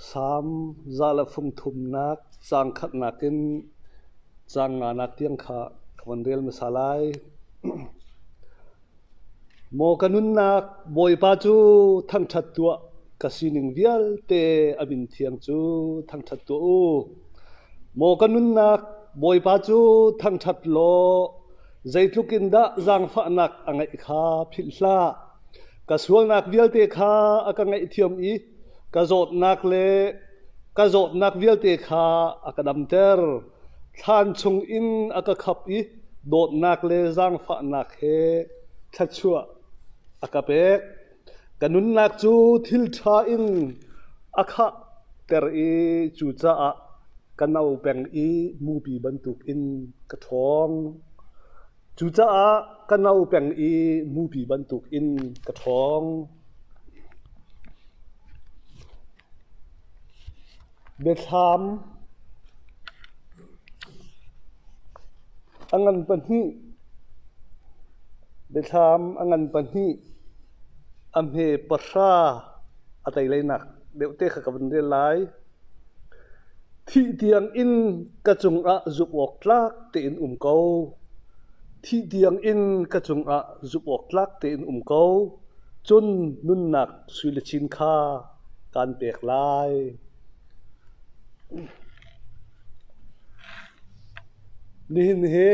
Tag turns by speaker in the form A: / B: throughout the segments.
A: Salm za le fungthumnak caang khatnak in caang nganak tiang kha ka von rel hmasa lai. Maw ka nunnak Bawipa cu thangṭhat tuah ka sining vialte a min thiang cu thangṭhat tuah u. Maw ka nunnak Bawipa cu thangṭhat law zeitluk in dah zaangfahnak a ngeih kha philh hlah. Ka sualnak vialte kha a ka ngaihthiam i ka zawtnak le ka zawtnak vialte kha a ka damter. Thlan chungin a ka khap i dawtnak le zaangfahnak he thluachuah a ka pek. Ka nunnak cu thil ṭha in a khahter i cucaah ka no peng i mupi bantukin ka ṭhawng. Cucaah ka no peng i mupi bantuk in ka ṭhawng. Biathlam a ngan pahnih biathlam a ngan pahnih a hme pahra a tei leinak deuh te kha ka van rel lai. Thih tiangin ka cungah zumh awk tlak tein um ko. Thih tiangin ka cungah zumh awk tlak tein um ko. Cun nunnak suile chin kha kaan pek lai. Nihin hi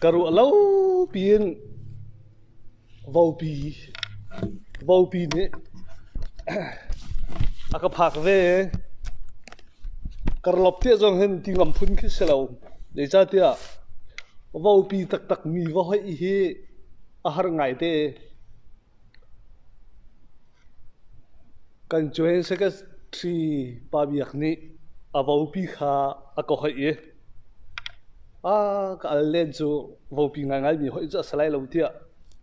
A: ka ruah lo piin Vopi nih a ka phak ve. Karlop tiah zong hin ti ngam phun khi si lo. Zeicahtiah vopi taktakmi va hoih hi a har ngaite. Kan cuhin Secretary Pa Biak nih a vopi kha a ka hoih i a ka al len cu vopi ngaingaimi hoih cu a si lai lo tiah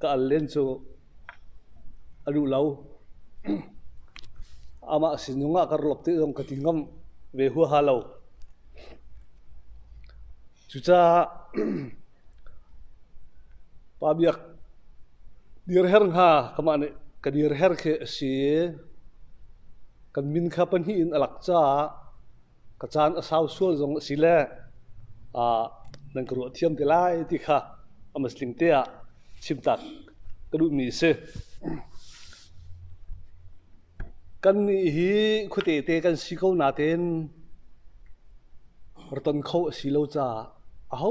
A: ka al len cu a duh lo. Amah sinung ah ka rolop te zong ka ti ngam ve huaha lo. Cucaah Pa Biak, dirher nga kamah nih ka dirher khi a si i kan min kha pahnih in a lak caah ka caan a sau sual zong a si le nan ka ruah thiam te lai ti kha a masling te ah chim tak ka duhmi a si. Kannih hi khuate te kan si ko nain ra ton kho a si lo caah aho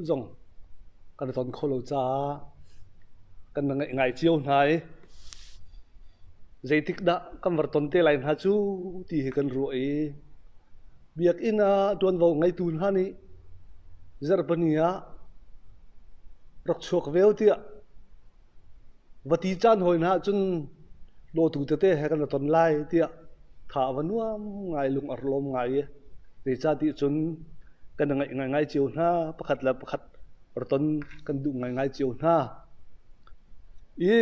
A: zong kan i ton kho lo caah kan va ngaih ngai cio hna i zeitikdah kan va ton te lai hna cu ti hi kan ruah i Biakinn ah ṭuanvo ngeitu hna nih Zarhpini ah rak chuak veo tiah Va ti caan hawi hna ahcun lawtu tete he kan i ton lai tiah tha a va nuam ngai, lung a lawm ngai i zeicahtiah cun kan i ngaih ngaingai cio hna. Pakhat le pakhat rak ton kan duh ngaingai cio hna. I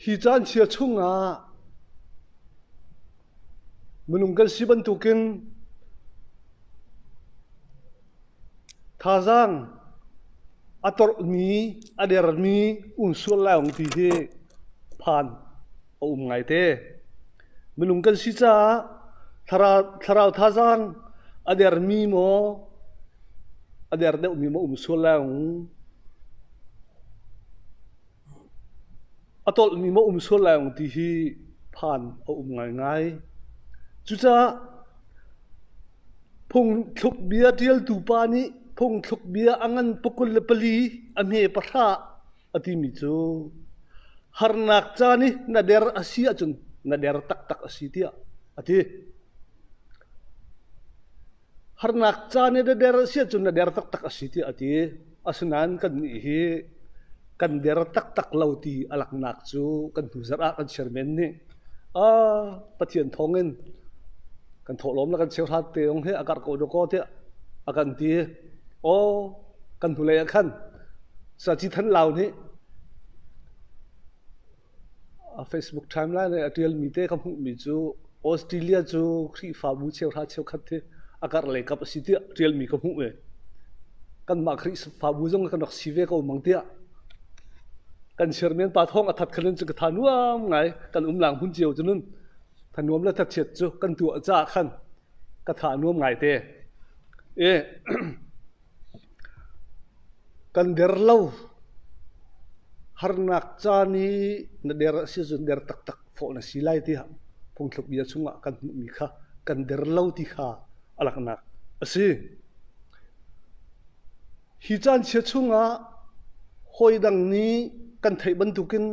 A: hi caan chia chungah minung kan si bantukin Thazaang a torhmi, a dermi um sual lai Ung ti hi phan a um ngaite. Minung kan si caah thlarau, thlarau thazaang a dermi maw, a der deuhmi maw um sual lai Ung. A tolhmi maw um sual lai ung ti hi phan a um ngaingai. Cucaah phungthlukbia ṭialtu pa nih phungthlukbia a ngan pakul le pali a hme pahra a timi cu harnak caan i na der a si ahcun na der taktak a si tiah a ti. Harnak caan i na der a si ahcun na der taktak a si tiah a ti. Asinain kannih hi kan der taktak lo ti a laknak cu kan hnu zarh ah kan chairman nih ah Pathian thawngin kan thawhlawm le kan cheuhrat te ong hi a karh ko dawh kaw tiah a kan ti. Aw, kan hnulei ah khan saci than lau nih A Facebook timeline i a ṭialmi te ka hmuhmi cu Australia cu Khrihfabu cheuhra cheukhat hi a karh le kap a si tiah ṭialmi ka hmuh ve. Kanmah Khrihfabu zong kan rak si ve ko mang tiah kan chairman pa thawng a that kha nun cu ka tha nuam ngai. Kan umlaang hmun cio cu nun thanuam le thatchiat cu kan tuah caah khan ka tha nuam ngai te. I Kan der lo. Harnak caan hi na der a si ahcun der taktak fawh na si lai tiah phungthluk bia chungah kan hmuhmi kha kan der lo ti kha a langhnak a si. Hi caan chia chungah hawi dang nih kan theih bantukin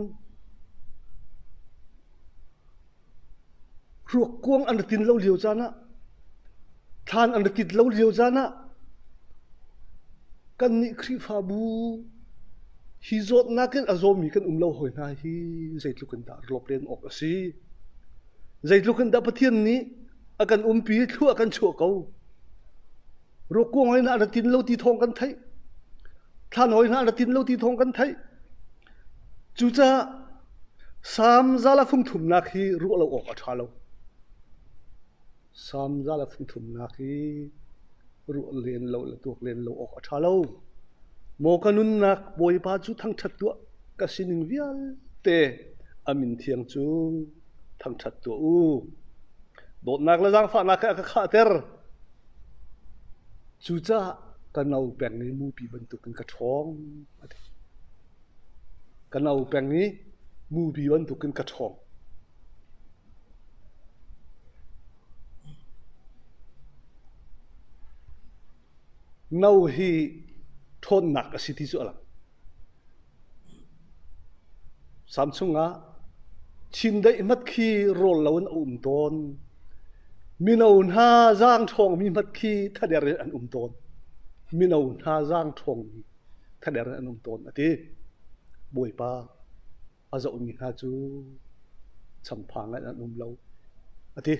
A: Ruakkuang an ra tin lo lio caan ah, thlan an ra tit lo lio caan ah, kannih Khrihfabu hi zawtnak in a zawmi kan um lo hoi hna hi zeitluk in dah rawp len awk a si. Zeitluk in dah Pathian nih a kan umpi i thluah kan chuah ko. Ruakkuang hoi hna an ra tin lo ti thawng kan theih. Thlan hoi hna an ra tin lo ti thawng kan theih. Cucaah Salm zal ah fungthumnak hi ruah lo awk a ṭha lo. Salm zal ah fungthumnak hi ruah len lo le tuak len lo awk a ṭha lo. Maw ka nunnak Bawipa cu thangṭhat tuah ka sining vialte a min thiang cu thangṭhat tuah u. Dawtnak le zaangfahnak he a ka khahter. Cucaah ka no peng i mupi bantukin ka ṭhawng. Ka no peng i mupi bantuk in ka ṭhawng. No hi ṭhawnnak a si ti cu a lang. Samsung ah chindeih hmat khi rawl lo in a um tawn. Mino hna zaang ṭhawngmi hmat khi thader in an um tawn. Mino hna zaang ṭhawngmi. Thader an um tawn a ti. Bawipa, a zohmi hna cu changphang ngai an um lo a ti.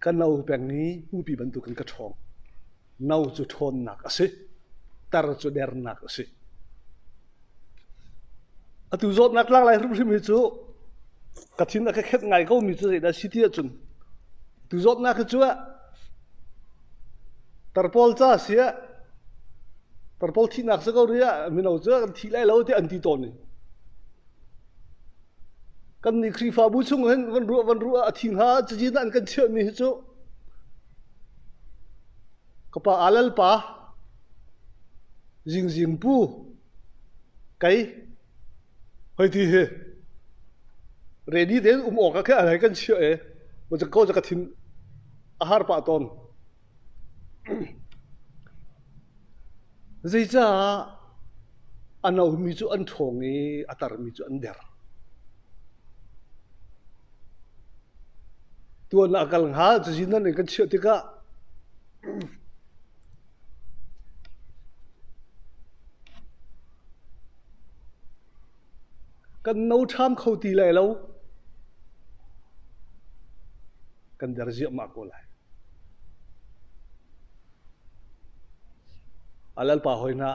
A: Ka no peng i mupi bantuk in ka ṭhawng. No cu ṭhawnnak a si. Tar cu dernak a si. Atu zawtnak tlak hrimhrim hi cu ka thin a ka khenh ngai ko mi cu zeidah a si ti ahcun tu zawtnak hi cu ah tarpawl ca a si ah tarpawl thihnak si ko rih ah mino cu kan thi lai lo tiah an ti tawn i kannih Khrihfabu chung hin van ruah van ruah ah a thi hnga cazin ah an kan chiah mi hi cu Ka pa aa lalpa, zingzing pu, kei hoiti hi ready tein um awk ah khin an hei kan chiah i macam ko cu ka thin a har pah tawn. Zeicaah a nomi cu an ṭhawng i a tarmi cu an der. Tuan a kal hnga, cazin nan in kan chiah tikah kan no ṭham kho ti lai lo. kan der ziahmah ko lai. A lalpa hoi hna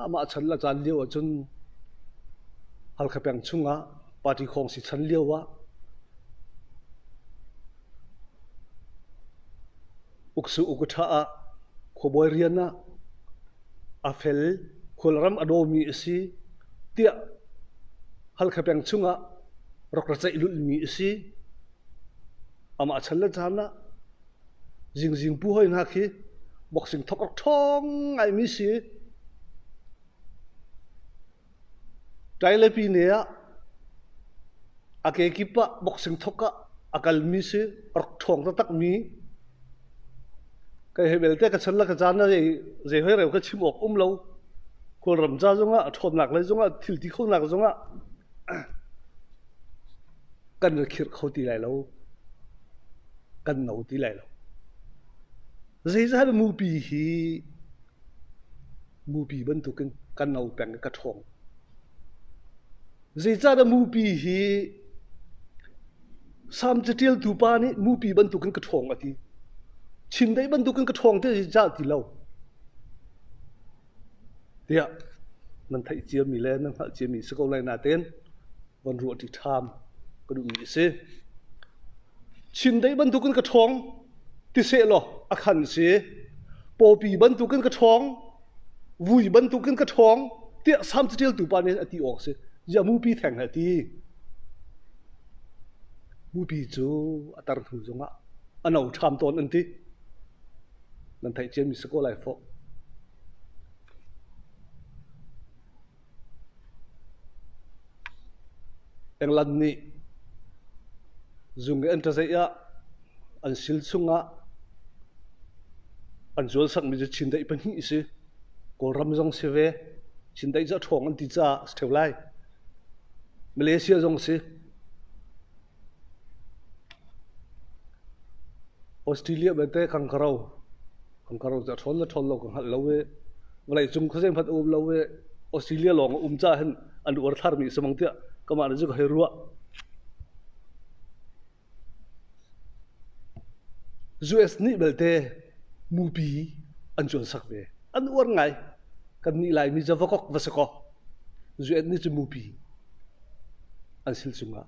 A: amah chan la caan lio ah cun Halkha peng chungah party khawng si chan lio ah uksu ukutha ah khuabawi rian ah a fel khualram a domi a si tiah halkha peng chungah rak ra ceih lulmi a si Amah chan le caan ah zingzing pu hoi hna khi boxing thok awk ṭhawng ngaimi si i ṭai le pi ne ah a kekip ah boxing thok ah a kalmi si rak ṭhawng taktakmi kai hei belte ka chan le ka caan ah zei hoi reu ka chim awk um lo khualram ca zongah a ṭhawnnak lei zongah thil ti khonak zongah Kan na khirh kho ti lai lo. Kan no ti lai lo. Zeizat mupi hi mupi bantuk in kan no peng i ka ṭhawng. Zeicah mupi hi Salm caṭialtu pa nih mupi bantuk in ka ṭhawng a ti. Chim deih bantuk in ka ṭhawng ti zeicah ti lo. tiah nan theih ciami le nan hngalh ciami si ko lai natein von ruah ṭi ṭham ka duhmi a si. Chin dei bantukin ka ṭhawng ti seh law a khan si. Pawpi bantukin ka ṭhawng, vui bantukin ka ṭhawng tiah sam catialtu pa nih a ti awk si. Ya mupi theng he ti. Mupi cu a tar hnu zongah a no ṭham tawn an ti. Nan theih ciami si ko lai fawh. England nih zung i an ṭazeih ah an sil chungah an zualsakmi cu Chindeih pahnih a si. Kawlram zong si ve. Chindeih cu a ṭhawng an ti caah a si ṭheu lai. Malaysia zong a si. Australia belte kan ka ro. Kan ka ro tiah ṭhawn le ṭhawn lo ka hngalh lo i vawleicung khuazei hmanh a um lo i Australia lawng a um caah hin an uar thlarmi a si mang tiah kamah le cu ka hei ruah. US nih belte mupi an cuansak ve. An uar ngai. Kannih Laimi cu va kok va si kaw, US nih cu mupi an sil cungah.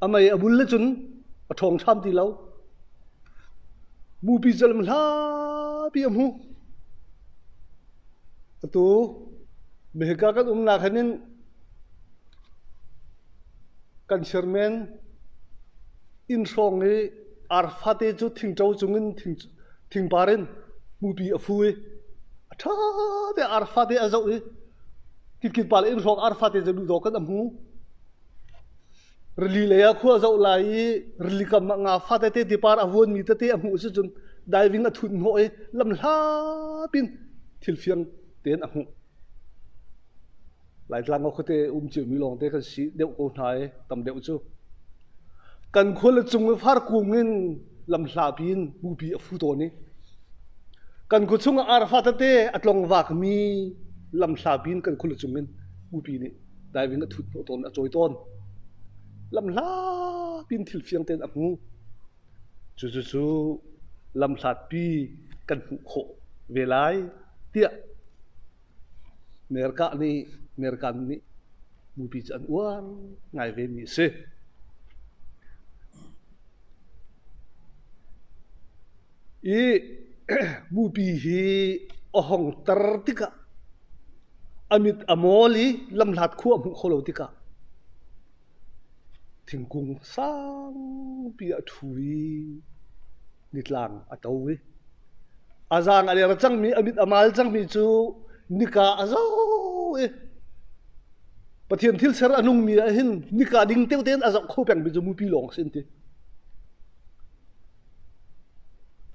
A: A mei a bul le cun a ṭhawng hram ti lo. Bupi cu a lam hlapi a hmu. Atu mehika kan umnak han in kan chairman inn hrawng i arfate cu thingṭo cung in thing Thingpar in hmupi a fu i a ṭha te ar fate a zoh i kitkitpa le inn hrawng ar fate cu duhdawk in a hmu. Rili lei ah khua a zoh lai i rili kam ah nga fa tete tipar a vuanmi tete a hmuh sicun diving a thunh hnawh i lamhlapi in thil fiang tein a hmuh. Laitlang ah khuate um ciomi lawngte kan si deuh ko hna i tam deuh cu kan khua le cung i farkung in lamhlapi in bupi a fu tawn i kan khua chung ah arfa tete a tlongvakmi lamhlapi in kan khua le cung in bupi nih diving a thut hnawh tawn a cawi tawn. Lamhlapi in thil fiang tein a hmu. Cucu lamhlatpi kan hmuh khawh ve lai tiah Merkah nih Merkan nih mupi cu an uar ngai vemi a si. I mupi hi a hong tar tikah a mit a mol i lamhlat khua a hmuh kho lo tikah Thingkung sangpi a ṭhu i nitlang a to i a zang a liar cangmi, a mit a mal cangmi cu nika a zo i Pathian thilser a nungmi ahhin nika ding teo tein a zoh kho pengmi cu mupi lawng a si an ti.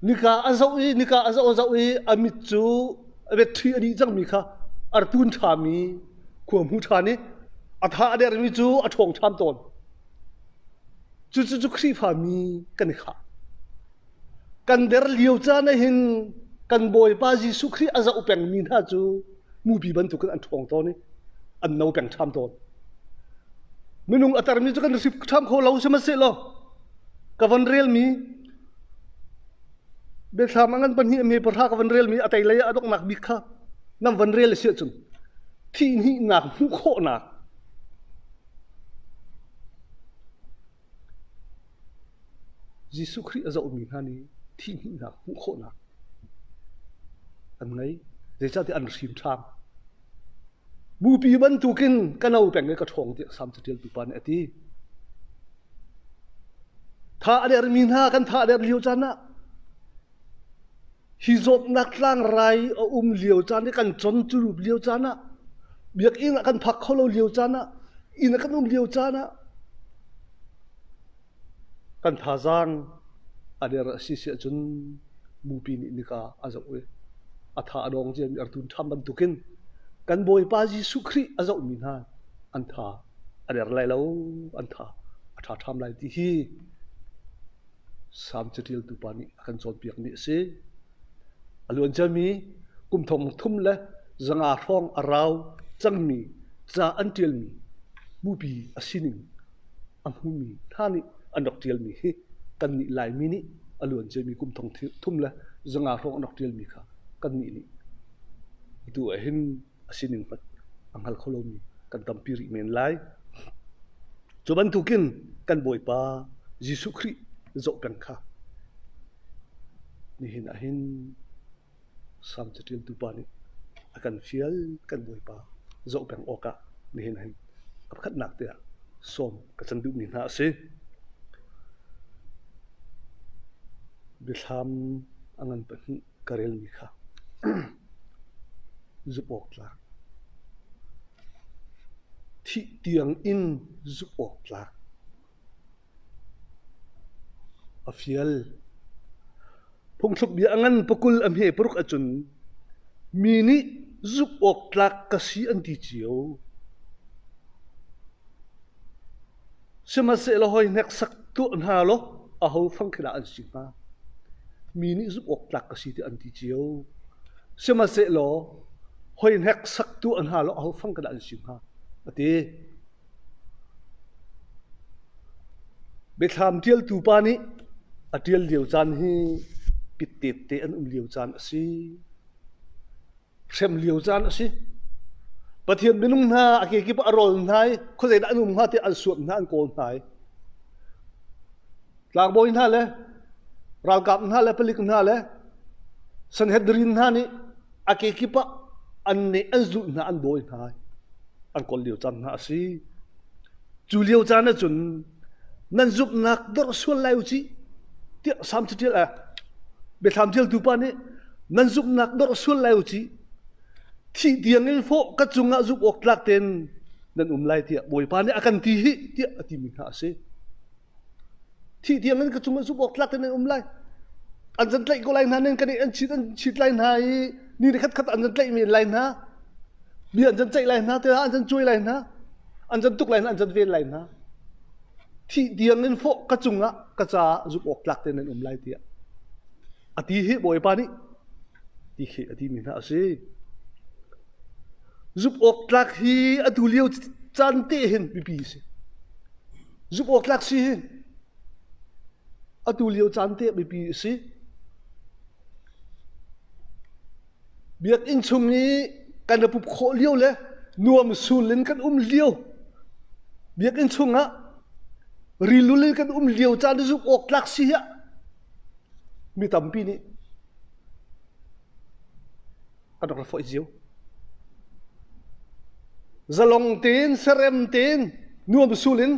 A: Nika a zoh i nika a zoh a zoh i a mit cu a retṭhi a dih cangmi kha a ratun ṭhami khuahmu ṭhan i a tha a dermi cu a ṭhawng ṭham tawn. Cucu Khrihfami kan i khah. Kan der lio caan ahhin kan Bawipa Jesuh Khrih a zoh pengmi hna cu mupi bantuk in an ṭhawng tawn i an no peng ṭham tawn. Minung a tarmi cu kan hrip ṭham kho lo sihmanhsehlaw ka van relmi biathlam angan pahnih a me pahra ka van relmi a teilei a donghnak bik kha nam van rel a si ahcun thihni nak hmuh khawhnak Jesuh Khrih a zohmi hna nih thihhnihnak hmuh khawhnak an ngei. Zeicahtiah an hrinṭhang. Bupi bantukin ka no peng i ka ṭhawng tiah Salm caṭialtu pa nih a ti. Tha a dermi hna kan tha a der lio caan ah Hi zawtnak tlangrai a um lio caan i kan con cu lio caan ah, biakinn ah kan phak kho lo lio caan ah, inn ah kan um lio caan ah kan thazaang a der a si siah cun mupi nih nika a zoh i a tha a dawng ciami artun ṭham bantukin kan Bawipa Jesuh Khrih a zohmi hna an tha a der lai lo, an tha a ṭha ṭham lai ti hi Salm caṭiltu pa nih a kan cawnpiakmi a si. A luan ciami kum thong thum le zanga hrawng a rau cangmi ca an ṭialmi bupi a sining a hmumi hna nih an rak ṭialmi hi kannih Laimi nih a luan ciami kum thong thum le zanga hrawng an rak ṭialmi kha kannih nih atu ah hin a sining hmanh a hngal kho lomi kan tampi rih men lai. Cu bantukin kan Bawipa Jesuh Khrih zoh peng kha nihin ah hin Salm caṭiltu pa nih a kan fial kan Bawipa zoh peng awkah nihin hin a pakhatnak tiang sawm ka can duhmi hna a si. Biathlam a ngan pahnih ka relmi kha zumh awktlak, thih tiang in zumh awktlak, a fial. Phungthluk bia a ngan pakul a hme paruk ahcun mi nih zumh awktlak ka si an ti cio. Sihmanhsehlaw hoi hneksak tuah hna law ahofang khi dah an si hnga? Mi nih zumh awk tlak ka si tiah an ti cio. Sihmanhsehlaw hoi hneksak tuah hna law ahofang ka dah an si hnga? A ti. Biathlam ṭialtu pa nih a ṭial lio caan hi pittette an um lio caan a si. hrem lio caan a si. Pathian minung hna a kekip ah a rol hna i khuazeidah an um hnga tiah an suat hna, an kawl hna i tlangbawi hna le ralkap hna le palik hna le Sanhedrin hna nih a kekip ah an nih an zulh hna an dawi hna an kol lio caan hna a si. Cu lio caan ahcun nan zumhnak dorh sual lai u cih, tiah Salm caṭial ah biathlam ṭialtu pa nih nan zumhnak dorh sual lai u cih. Thih tiang in fawh ka cungah zumh awk tlak tein nan um lai tiah Bawipa nih a kan ti hi tiah a timi hna a si. Thih tiang in ka cungah zumh awk tlak tein nan um lai. An zan tlaih ko lai hna nen kan i an chit an chit lai hna i ni le khatkhat an zan tlaihmi lai hna. Mi an zan tlaih lai hna te an zan cuai lai hna. an can tuk lai hna an can ven lai hna thih diang in fawh ka cungah ka caah zuk awk tlak te nan um lai tiah a ti hi bawipa nih ti khi a ti mi hna a si zuk awk tlak hi a tu lio caan te hin mipi si zuk awk tlak si hi a tu lio caan te mipi si Biakinn chung i kan i pup khawh lio le nuam sul in kan um lio, biakinn chungah rilul in kan um lio caan i zumh awk tlak si hi ah mi tampi nih an rak ra foih cio. Zalong tein, serem tein, nuam sul in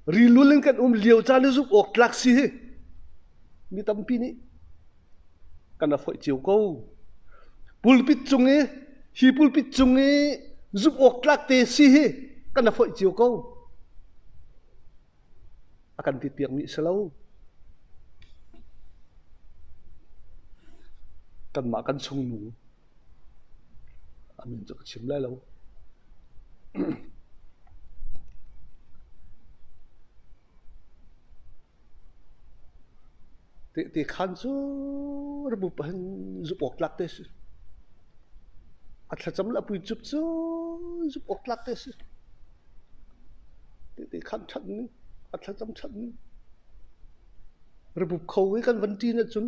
A: Rilul in kan um lio caan hi zumh awk tlak si hi mi tampi nih kan rak foih cio ko. Pulpit cung i, hi pulpit cung i zumh awk tlak te si hi kan rak foih cio ko. A kan tit piakmi a si lo. Kanmah kan chungnu. A min cu ka chim lai lo. Tehte khaan cu rabu pahin zumh awk tlak te a si. A thlacam le a pui cup cu zumh awk tlak te a si. Tehte khaan ṭhat ning, a thlacam ṭhat ning. Rabu kho hi kan van ṭin ahcun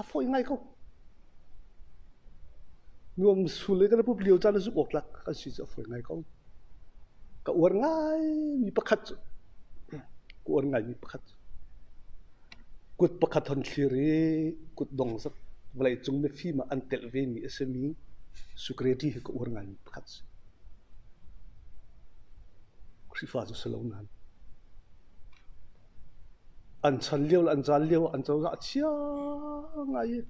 A: A fawi ngai ko. Nuam sul le kan i pup lio caan cu zumh awk tlak kan si cu a fawi ngai ko. Ka uar ngaimi pakhat cu, ka uar ngaimi pakhat cu, kut pakhat hon thlir i kut dong zat vawleicung mifim ah an telh vemi a simi security hi ka uar ngaimi pakhat a si. Khrihfa cu si lo nain. An chan lio le an caan lio ah an cozah a chia ngai i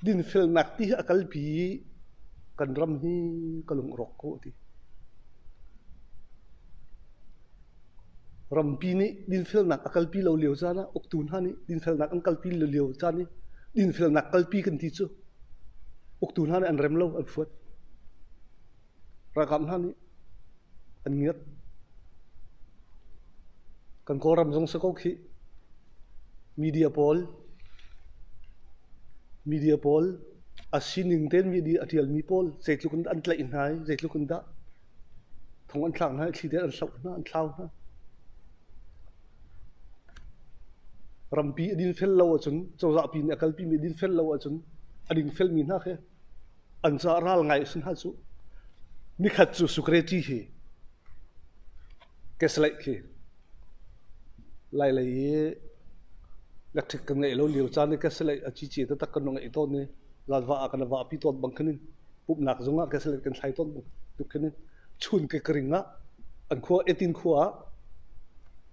A: dinfelnak ti hi a kalpi i kan ram hi ka lung a rawk ko a ti. Rampi nih dinfelnak a kalpi lo lio caan ah uktu hna nih dinfelnak an kalpi lo lio caan i dinfelnak kalpi kan ti cu uktu hna nih an rem lo, an fuat. Ralkap hna nih an ngiat. Kan Kawlram zong si ko khih. Media pawl, media pawl, a sining tein media a ṭialmi pawl zeitluk in an tlaih hna i zeitluk in dah thong an thlak hna i thli tein an hloh hna, an thlau hna. Rampi a dinfel lo ahcun, cozah pi nih a kalpimi a dinfel lo ahcun a dingfelmi hna khi An ca ral ngai a si hna cu. Nikhat cu security hi keslaih khi lailei i na ṭhit kan ngeih lo lio caan i keslaih a cici taktak kan ngeih tawn i zanva ah kan va api tawn bang khin in pumhnak zung ah keslaih kan thlai tawn tuk khin in chun ke ka ring ah an khua etin khua ah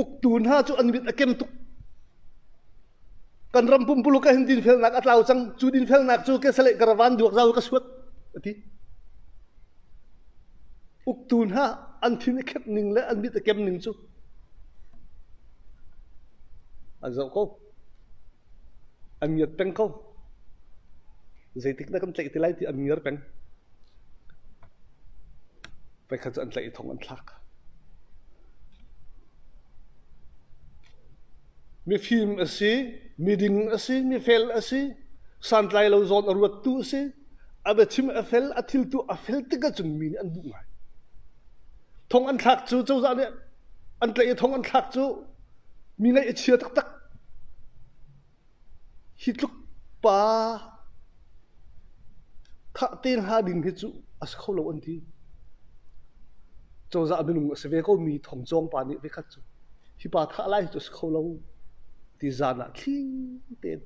A: Uktu hna cu an mit a kem tuk. Kan ram pumpuluk ah hin dinfelnak a tlau cang. Cu dinfelnak cu kesalei karavan duak zau ka suat a ti. Uktu hna an thin i khep ning le an mit a kem ning cu an zoh ko. an ngiat peng kho. Zeitik na kan tlaih ti lai ti an ngiar peng. Paikhat cu an tlaih i thong an thlak. Mifim a si, miding a si, mifel a si, santlai lo zawn a ruattu a si, a biachim a fel, a thiltu a fel tikah cun mi nih an duh ngai. Thong an thlak cu cozah nih an tlaih i thong an thlak cu Mi ngaih a chia taktak. Hi tluk pa thah te hna ding hi cu a si kho lo an ti. Cozah minung a si ve ko mi thong cawng pa nih vekhat cu hi pa thah lai hi cu a si kho lo ti zan ah thli tein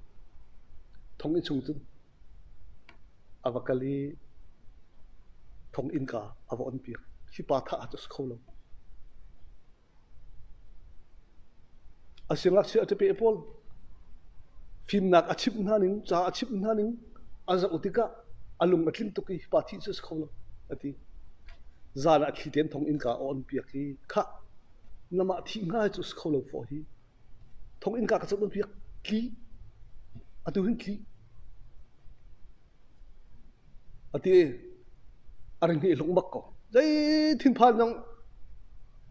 A: thong i chung cun a va kal i thong innka a va on piak. Hi pa thah cu a si kho lo. A singakchia a ṭapeh pawl fimnak a chimh hna ning, ca a chimh hna ning an zoh tikah a lung a tling tuk i pa thih cu a si kho lo, a ti. Zan ah thli ten thong innka a on piak i khah, na mah thih hna hi cu a si kho lo faw hi. Thonginn-ka ka zoh nawnpiak tlih. Atu hin tlih. Ati. A ring hnih hlung bak ko. Zei thinphan zong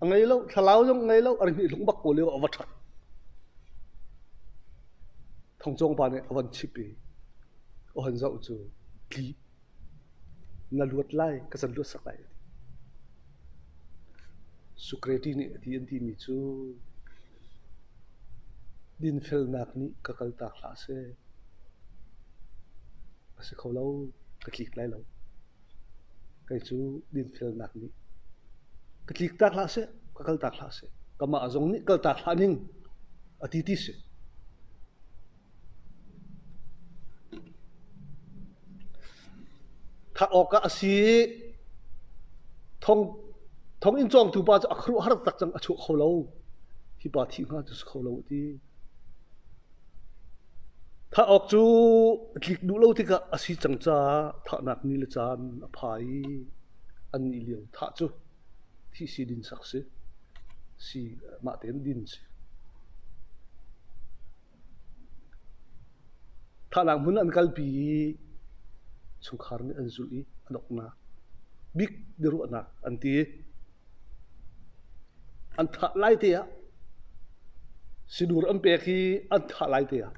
A: a ngei lo. Thlalau zong a ngei lo. A ring hnih hlung bak ko lio a va ṭhat. Thong Cawng pa nih a van chip i, a han zoh cu, tlih. Na luat lai ka can luatsak lai a ti. Socrates nih a ti an timi cu dinfelnak nih ka kaltak hlah seh. A si kho lo, ka tlik lai lo. Kei cu dinfelnak nih ka tliktak hlah seh, ka kaltak hlah seh. Kamah zong nih kaltak hlah ning a ti ti si. That awkah a si i thonginn cawngtu pa cu a khuaruahhar taktak cang a chuak kho lo. Hi pa thih hnga cu si kho lo a ti. Thah awk cu tlik duh lo tikah a si cang caah thahnak ni le caan a phai i an nih lio thah cu thih si din sak si. Si mah tein din si. Thahnak hmun ah an kalpi i chungkhar nih an zulh i a donghnak bik biaruahnak an ti. An thah lai te ah sinur an pek i an thah lai te ah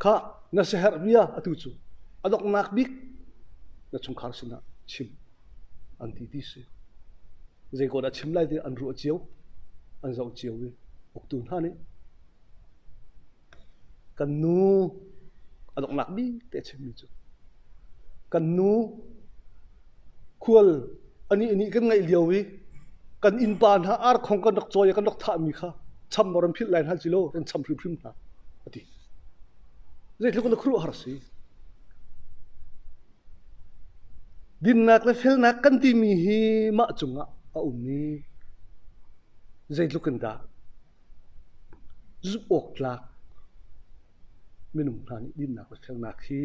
A: khah na siaherh bia atu cu a donghnak bik na chungkhar sinah chim an ti ti si. Zei ko dah chim lai ti an ruah cio, an zoh cio i uktu hna nih Kan nu a donghnak bite a chimmi cu kan nu khual anih nih kan ngaih lio i kan innpa hna arkhong kan rak cawi i kan rak thahmi kha cham aw ran philh lai hna cilaw ran cham hrimhrim hna a ti. Zeitluk in a khuaruahhar a si. Dinnak le felnak kan timi hi mah cungah a um i zeitluk in dah Zumh awktlak minung hna nih dinnak le sernak hi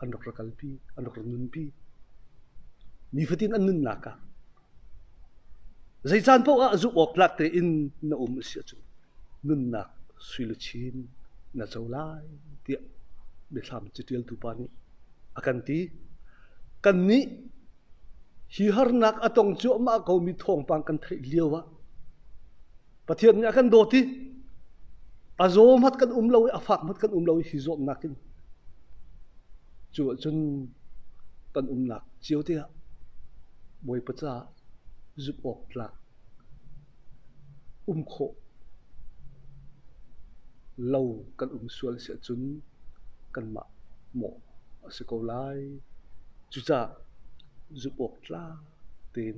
A: an rak ra kalpi, an rak ra nunpi. Nifatin an nunnak ah zei caan paoh ah zumh awktlak tein na um a si ahcun nunnak sui le chin na co lai tiah biathlam catialtu pa nih a kan ti. Kannih Hi harnak a tong cuahmah komi thawngpang kan theih lio ah Pathian nih a kan dawt i a zaw hmat kan um lo i a fak hmat kan um lo i hi zuamnak in cu ahcun kan umnak cio te ah Bawipa caah zumh awk tlak Um khawh lo kan um sual si ahcun kanmah mawh a si ko lai. Cucaah zumh awk tlang tein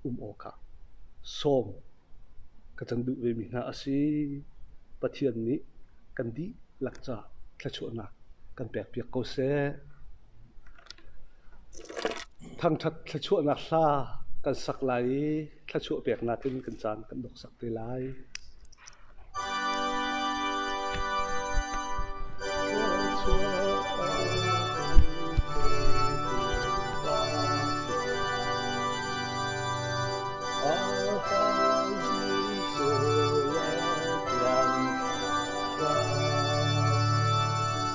A: um awk ah sawm ka cang duh vemi hna a si. Pathian nih kan dihlak caah thluachuahnak kan pekpiak ko seh. Thangṭhat thluachuahnak hla kan sak lai i thluachuah peknak in kan caan kan dok sak te lai.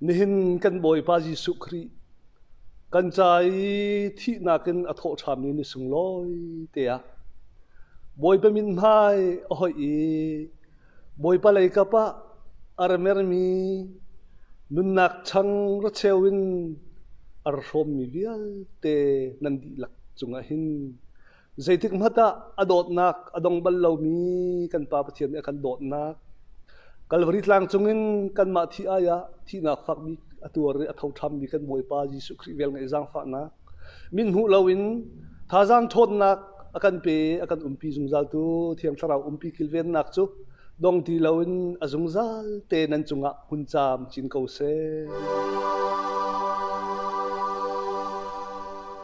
A: Nihin kan Bawipa Jesuh Khrih, kan ca i thihnak in a thawhṭhammi na sunglawi teah Bawipa min hmai a hoih i Bawipa lei kap ah a ra mermi nunnak chang racheu in a ra hrawmmi vialte nan dihlak cungah hin Zeitik hmanh ah a dawtnak a dong bal lomi kan Pa Pathian nih a kan dawtnak Kalvari tlang cungin kanmah thih ai ah thihnak fakmi a tuar i a tho ṭhammi kan Bawipa Jesuh Khrih vel ngeih zaangfahnak min hmuh loin thazaang ṭhawnnak a kan pe a kan umpi zungzal tu Thiang Thlarau umpi kilvennak cu dong ti loin a zungzal te nan cungah hun caam cin ko seh.